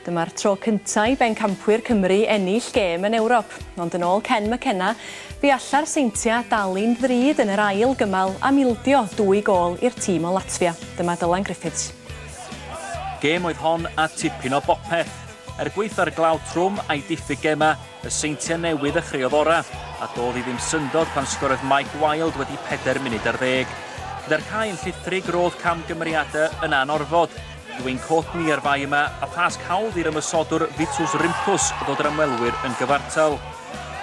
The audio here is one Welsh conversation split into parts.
Dyma'r tro cyntaf i bencampwyr Cymru ennill gêm yn Ewrop, ond yn ôl Ken McKenna, bu alla'r seintiau dalu'n ddrud yn yr ail gymal am ildio dwy gôl i'r tîm o Latfia. Dyma Dylan Griffiths. Gêm oedd hon a tipyn o bopeth. Er gwaetha'r glaw trwm a'i diffyg gemau, Y Seintiau Newydd a chreuodd orau, a doedd hi ddim syndod pan sgorodd Mike Wilde wedi pedair munud ar ddeg. Gyda'r cae yn llithrig, roedd camgymeriadau yn anorfod. Dwyn cot ni ar fai yma, a phasg hawdd i'r ymosodwr Vitus Rimpus ddod yr ymwelwyr yn gyfartal.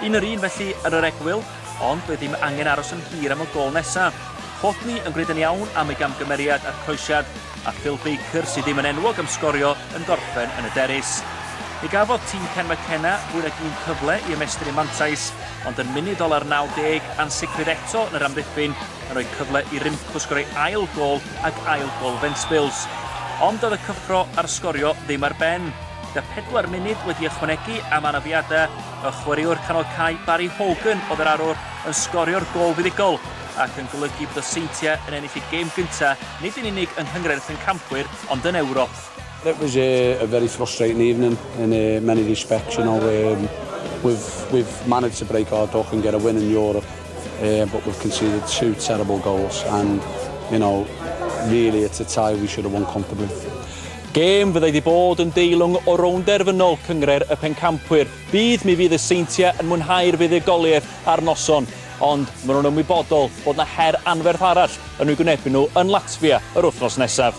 Un yr un felly yn yr egwyl, ond doedd ddim angen aros yn hir am y gol nesaf. Cot ni yn gwneud yn iawn am ei gamgymeriad a'r croesiad, a Phil Baker, sydd ddim yn enwog am sgorio, yn gorffen yn y derys. Mi gafodd tîm Ken McKenna fwy nag un cyfle i ymestyn eu mantais, ond yn munud ola'r 90, ansicrwydd eto yn yr amddiffyn yn rhoi cyfle i Rymco sgorio'i ail gôl ac ail gôl Ventspils. Ond doedd y cyffro a'r sgorio ddim ar ben. Gyda phedwar munud wedi ychwanegu am anafiadau, y chwaraewr canol cae Barry Hogan oedd yr arwr yn sgorio'r gôl fuddugol. ac yn golygu bod y Seintiau yn ennill eu gêm gyntaf nid yn unig yng Nghyngrairth yn Campwyr ond yn Ewrop. It was a, a very frustrating evening in uh, many respects. You know, um, we've we've managed to break our duck and get a win in Europe, uh, but we've conceded two terrible goals, and you know, really it's a tie we should have won comfortably. Gêm fyddai wedi bod yn deilwng o rownd derfynol cyngreir y pencampwyr. Bydd mi fydd y seintiau yn mwynhau'r fuddugoliaeth ar noson. ond maen nhw'n ymwybodol bod 'na her anferth arall yn eu gwynebu nhw yn Latfia yr wythnos nesaf.